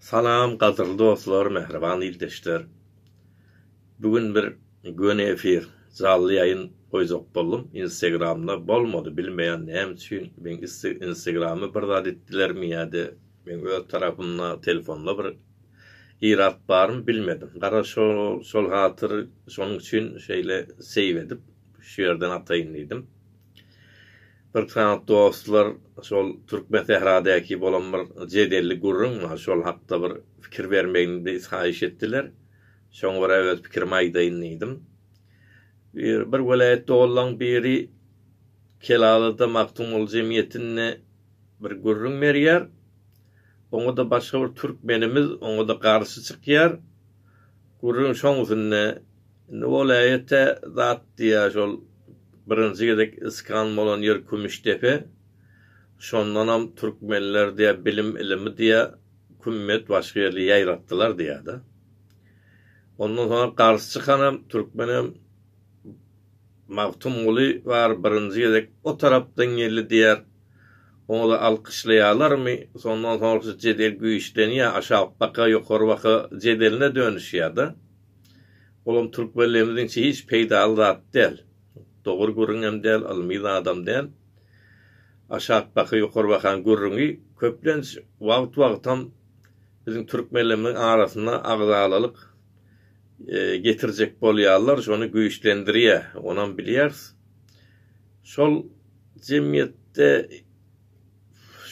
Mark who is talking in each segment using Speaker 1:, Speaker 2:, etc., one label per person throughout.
Speaker 1: Salam gadyrly dostlar mähriban ildeşler bu gün bir göni efir jally ýaýyn goýjak boldum instegramda bolmady bilmeýän näme üçin meň instegramy bir zat etdilermi ýa-da meň öz tarapymda telefonda bir irat barmy bilmedim gara şol hatyr şonuň üçin şeýle seýw edip şu ýerden ataýyn diýdim. Bir sany dostlar şol Türkmen sähradäki bolan bir jedelli gürrüň bar, şol hakda bir pikir bermegimdi haýyş etdiler. Şoňa görä öz pikirimi aýdaýyn diýdim. Bir, bir welaýat doganlaň biri Kelalada Magtymguly jemgyýetinde bir gürrüň berýär. Oňa-da başga bir türkmenimiz oňa-da garşy çykýar. Gürrüň şoň üstünde Indi ol äýete zat diýýär şol birinji gezek iskan bolan ýer Kümüşdepe şondanam türkmenler diýýär bilim ilimi diýýär kümmet başga ýerde ýaýratdylar diýýärda. Ondan soňra garşy çykanam türkmenem Magtymguly bar birinji gezek o tarapdan geldi diýýär oňada alkyşlaýarlarmy sondan soňra jedel güýçlenýär aşak baka ýokary baka jedeline dönüşýärda. Olam türkmenlerimiziňçe hiç peýdaly zat däl. Dogry gürrüňem däl, ylmy zadam däl. Aşak baka ýokary bakan gürrüňi köplenç wagt-wagtam biziň türkmenlerimiziň arasyna agzalalyk getirjek bolýarlar, şony güýçlendirýär. Onam bilýäris. Şol jemgyýetde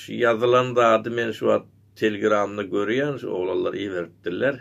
Speaker 1: şu ýazylan zady men şu wagt telegramda görýän, şu oglanlar iberipdirler.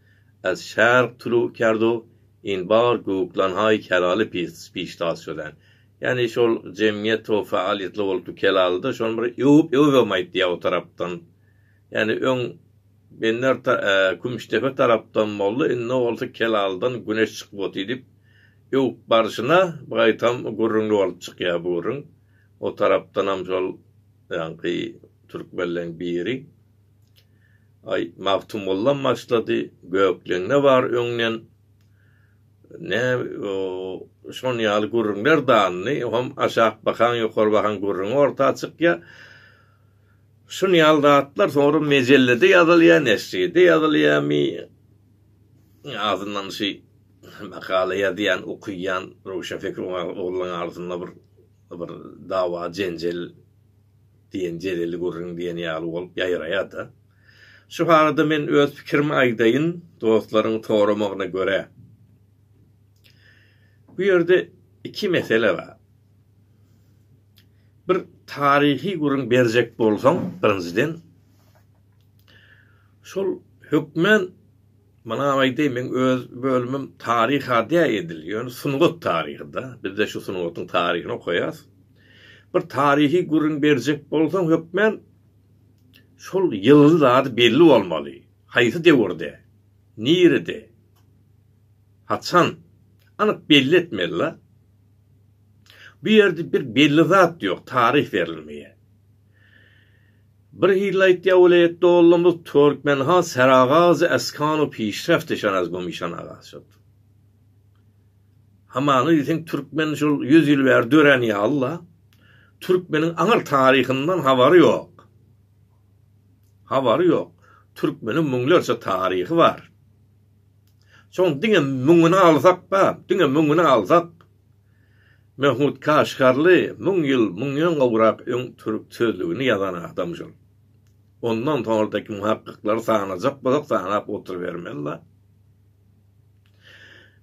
Speaker 1: As şark tulu kerdu in bar guklan hay kelaly pis piş tas çözen. Ýani şol jemgyýet to faaliýetli bolupdy kelalyda şony bir öwüp öwübem aýtýa o tarapdan. Ýani öň Bender ta e Kümüşdepe tarapdan boldy indi bolsa kelalydan güneş çykyp oty dip öwüp barşyna gaýtam gürrüňli bolup çykýa bu gürrüň. O tarapdanam şol ýanky türkmenleň biri Aý, Magtymguldan başlady, Gökleňde bar öňden. Nä, şon ýaly gürrüňler danyny, hem aşak bakaň, ýokary bakaň gürrüňi orta çykýar. Şun ýaly zatlar soňra mejellede ýazylýar, neşride ýazylýarmy, azyndan şi makala ýazýan, okyýan röwşenpikir oglanlaň arasynda bir bir dawa, jenjel, diýen jeleli gürrüň diýen ýaly bolup ýaýraýar-da. Şu barada men öz pikirimi aýdaýyn, dostlaryň soramagyna görä. Bu ýerde iki mesele bar. Bir taryhy gürrüň berjek bolsaň, birinjiden, şol hökmän Muny aýdaýyn, meň öz bölümim taryh adýa edil, ýöne sungat taryhy-da. Bizde şu sungatyň taryhyny okaýas. Bir taryhy gürrüň berjek bolsaň, hökmän şol ýylyň zady belli bolmaly. Haýsy döwürde, nirede, haçan, anyk belli etmeli-la. Bu ýerde bir belli zat ýok, taryh berilmeýär. Bir hili aýtýa welaýat doganlarymyz Türkmenhan Seragazy Askanow Pişreft eşan az göm işan aga şod. Hamana diýseň türkmen şol ýüz ýyl bäri dörän ýaly la. Türkmeniň aňyr taryhyndan habary ýok. Habary ýok. Türkmeniň müňlerçe taryhy bar. Şoň diňe müňüni alsak ba, diňe müňüni alsak. Mehmut Kaşgarly müň ýyl munýan gowrak öň türk sözlügini ýazan adamdyr. Ondan soňradaky muhakkyklary sanajak bolsak sanap oturybermez-la.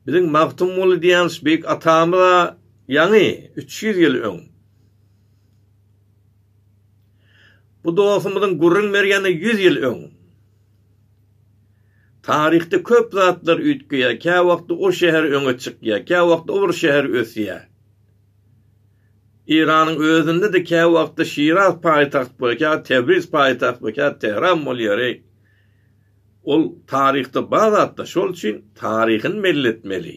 Speaker 1: Biziň Magtymguly diýen beýik atamyz-a ýaňy üç ýüz ýyl öň Bu dostumyzyň gürrüň berýäni ýüz ýyl öň. Taryhda köp zatlar üýtgeýär, käwagtda o şäher öňe çykýar, käwagtda o bir şäher ösýär. Eýranyň özünde-de käwagtda Şiraz paýtagt bolýar, käwagt Tebriz paýtagt bolýar, käwagt Tähran bolýar, eý. Ol taryhda bar zatlar, şol üçin taryhyny belli etmeli.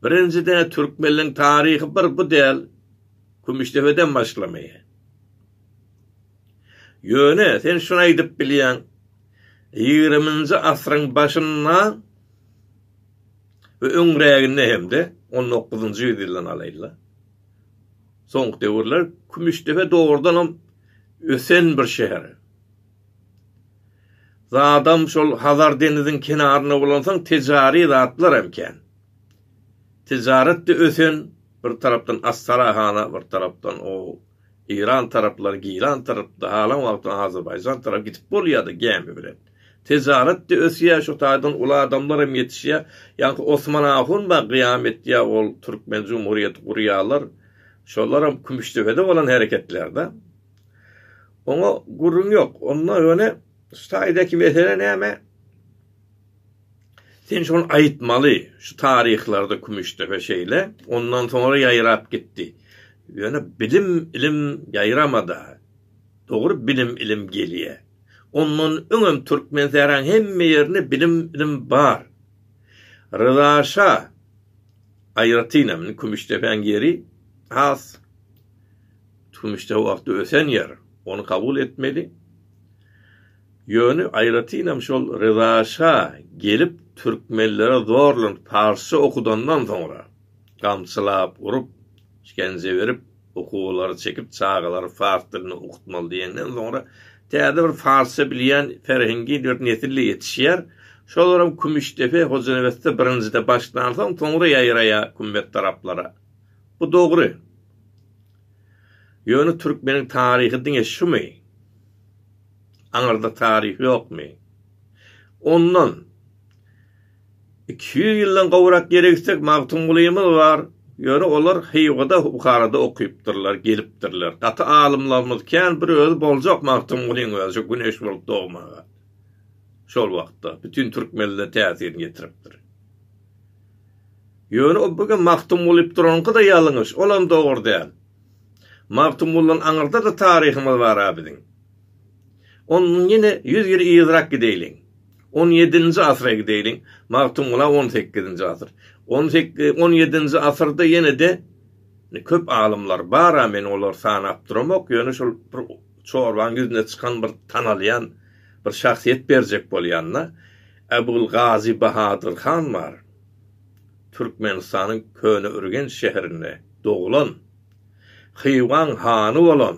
Speaker 1: Birinjiden, türkmenligiň taryhy bir bu däl, Kümüşdepeden başlamaýar. Ýöne sen şuny aýdyp bilýäň, ýigriminji asyryň başynda we öňräginde hem-de on dokuzynjy ýüzýyldan alaýyn-la, soňky döwürler Kümüşdepe dogrudanam ösen bir şäher. Zadam şol Hazar deniziň kenarynda bolansoň tejary zatlar hem kän. Tejaret-de ösen, bir tarapdan Astarahana, bir tarapdan o Eýran taraplar giran tarapda halan wagtyň Azerbaýjan tarap gidip bolýada gämi bilen. Tejaretde ösýä şu taýdan uly adamlar hem ýetişýä ýaňky Osman ahun ba gyýam etýä ol türkmen jumhurýeti gurýalar şolaram kümüşdepede bolan hereketlerde. Oňa gürrüň ýok onda ýöne şu taýdaky mesele näme? Sen şony aýtmaly, şu taryhlarda Kümüşdepe şeýle, ondan soňra ýaýrap gitdi. Ýöne bilim, ilim ýaýrama-da. Dogry bilim, ilim gelýä. Ondan öňem Türkmensähraň hemme ýerinde bilim, ilim bar. Ryza şa aýratynam, indi Kümüşdepäň ýeri has Kümüşdepe wagty ösen ýer, ony kabul etmeli. Ýöne aýratynam şol Ryza şa gelip türkmenlere zorlan parsça okudandan soňra, gamçylap urup, işgence berip, okuwlary çekip çagalary fars dilinde okutmaly diýenden soňra täze bir farsça bilýän ferhengi bir nesil-de ýetişýär. Şolaram Kümüşdepe, Hojanebesde birinjide başlansoň, soňra ýaýraýar kümmet taraplara. Bu dogry. Ýöne türkmeniň taryhy diňe şumy? Aňyrda taryh ýokmy? Ondan iki ýüz ýyldan gowrak ýere gitsek, Magtymgulymyz bar. Ýöne olar Hywada, Buharada okypdyrlar, gelipdirler. Gaty alymlarymyz, kän bir özi boljak Magtymgulyň özi şu Güneş bolup dogmaga. Şol wagtda bütin türkmenlere täsirini ýetiripdir. Ýöne o bu gün Magtymgulyp duranyňky-da ýalňyş, olam dogry däl. Magtymguldan aňyrda-da taryhymyz bar-a biziň. Ondan ýene ýüz ýyl yzyrak gideýliň. On ýedinji asyra gideýliň. Magtymguly on sekizinji asyr. On sekiz, on ýedinji asyrda ýene-de köp alymlar bar-a, men olary sanap duramok, ýöne şol bir çorbaň ýüzüne çykan bir tanalýan bir şahsyýet berjek bolýanda, Äbulgazy Bahadyr han bar. Türkmenistanyň Köneürgenç şäherinde doglan. Hywaň hany bolan,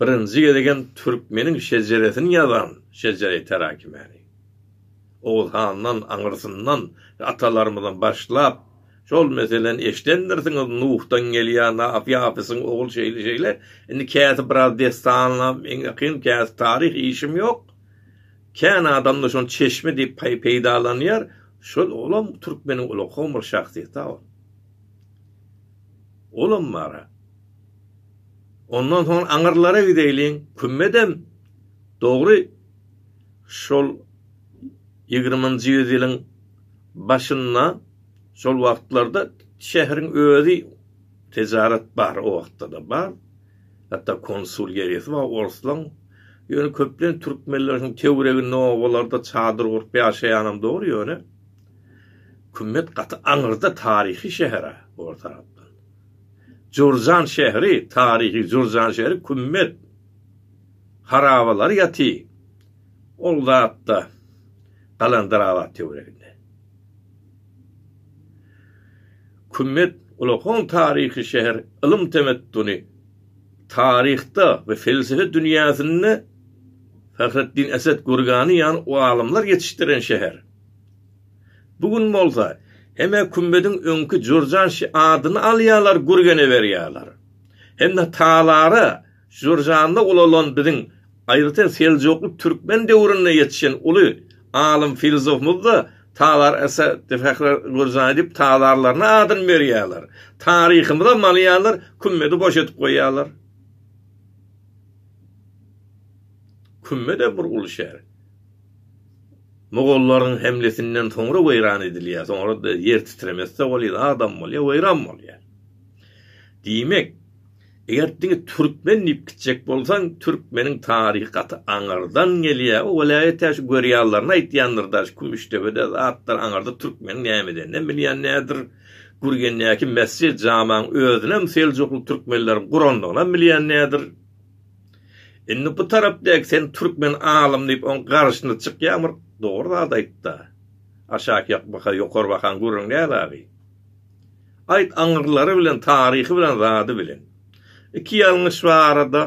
Speaker 1: birinji gezegem türkmeniň şejeresini ýazan Şejereý Terakimäni, Oguz handan, aňyrsyndan we atalarymyzdan başlap, şol meseleni eşidendirsiňiz, Nuhdan gelýär, Nafy Hafysyň ogul şeýle-şeýle, indi käsi biraz dessana ýakyn, käsi taryh, işim ýok, kän adam-da şony çeşme diýip peýdalanýar, şol, olam türkmeniň uly kowum bir şahsyýeti-ä ol. Olam bar-a. Ondan soň aňyrlara gideýliň, Kümmedem, dogry, şol ýigriminji ýüz ýylyň başynda, şol wagtlarda şäheriň özi tejarat bar, o wagtda-da bar. Hatda konsul geresi bar orslaň. Ýöne köplenç türkmenler şonuň töwereginde obalarda çadyr gurup ýaşaýanam dogry, ýöne. Kümmet gaty aňyrda taryhy şähere ol tarapdan. Jurjan şäheri taryhy Jurjan şäheri Kümmet harabalar ýaty ol zatda Galandarabat töwereginde. Kümmet ulakon taryhy şäher ylym temettuny taryhda we felsefe dünýäsinde Fahreddin Esed Gurgani ýaly o alymlar ýetişdiren şäher. Bu gün bolsa, hem-ä kümmediň öňki jürjanşy adyny alýarlar, gürgene berýärler. Hem-ä talara, jürjanda ulalan biziň, aýratyn seljukly türkmen döwründe ýetişen uly alym filzofymyz-da Talar Eseddi Fehrer Gürjany diýip talarlaryna adyny berýärler. Taryhymyzam alýarlar, kümmedi boş edip goýýarlar. Kümmed-ä bir uly şäher. Mogollaryň hemlesinden soňra weýran edilýär. Soňra-da ýer titremese bolýar, adam bolýar, weýran bolýar. Diýmek, eger diňe türkmen diýip gitjek bolsaň, türkmeniň taryhy gaty aňyrdan gelýär. Ol welaýat tä şu görýallaryny aýtýandyr-da, şu Kümüşdepede zatdyr, aňyrda türkmeniň näme edeninem bilýän däldir. Gürgendäki mesjid-jamaň özünem seljukly türkmenleriň gurandygynam bilýän däldir. Indi bu tarap dek sen türkmen alym diýip oň garşyna çykýaň bir dogry zat aýtda. Aşak ýak baka ýokary bakaň gürrüň näl agy. Aýt aňyrlary bilen taryhy bilen zady bilen. Iki ýalňyş barada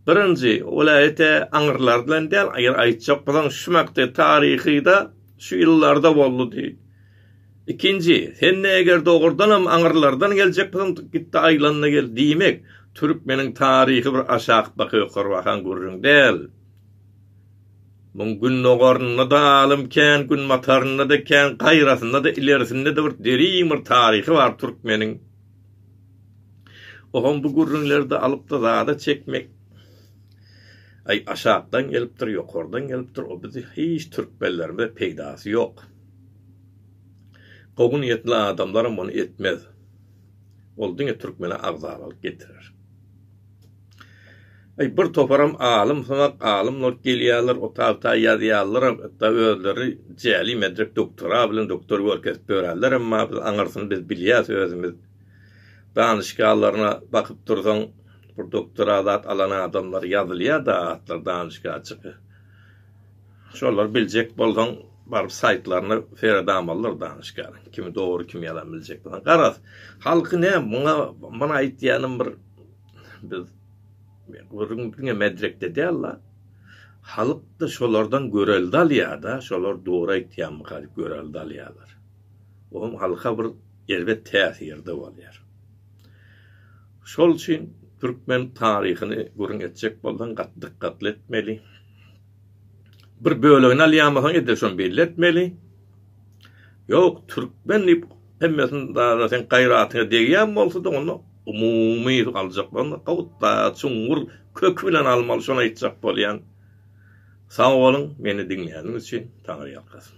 Speaker 1: birinji welaýete aňyrlar bilen däl aýr aýtjak bolsaň şumakdy taryhyda şu ýyllarda boldy diý. Ikinji, sende eger dogrudanam aňyrlardan geljek bolsaň gitde aýlanda gel diýmek türkmeniň taryhy bir aşak baka ýokary bakan gürrüň däl. Muň gündogarynda-da alym kän, günbatarynda-da kän, gaýrasynda-da, ilerisinde-de bir derin bir taryhy bar türkmeniň. Oham bu gürrüňlerde alypda zada çekmek Aý aşakdan gelipdir, ýokardan gelipdir o bizi hiç türkmenlerimize peýdasy ýok. Gowy niýetli adamlar muny etmez. Ol diňe türkmene agzalalyk getirer. Aý bir toparam alym syňak alymlar gelýärler otagta ýazýarlaram hatda özleri jäli medrek doktora bilen doktor bolup kesip ýörärler emma biz aňyrsyny biz bilýäs özümiz danyşgalarna bakyp dursaň bir doktora zat alan adamlar ýazylýada atlar danyşga çyky Şolary biljek bolsaň baryp saýtlaryna seret amallar danyşgär kimi dogry kimi ýalan biljek bolsaň garaz halky ne muňa mana aýtýanym bir biz gürrüň diňe medrekde däl la halyk da şolardan görelde alýada şolar dogry aýtýamyka diýip görelde alýalar oňam halka bir erbet täsirde bolýar şol üçin türkmen taryhyny gürrüň etjek bolsaň gat dykgatly etmeli. bir bölegini alýanmysyň edil şony belli etmeli. Ýok, türkmen diýip hemmesini dara sen gaýratyňa degýän bolsa-da onda umumy aljak bolanda gowutda çuňňur köki bilen almaly şony aýtjak bolýan. Sag boluň meni diňläniň üçin Taňry ýalkasyn.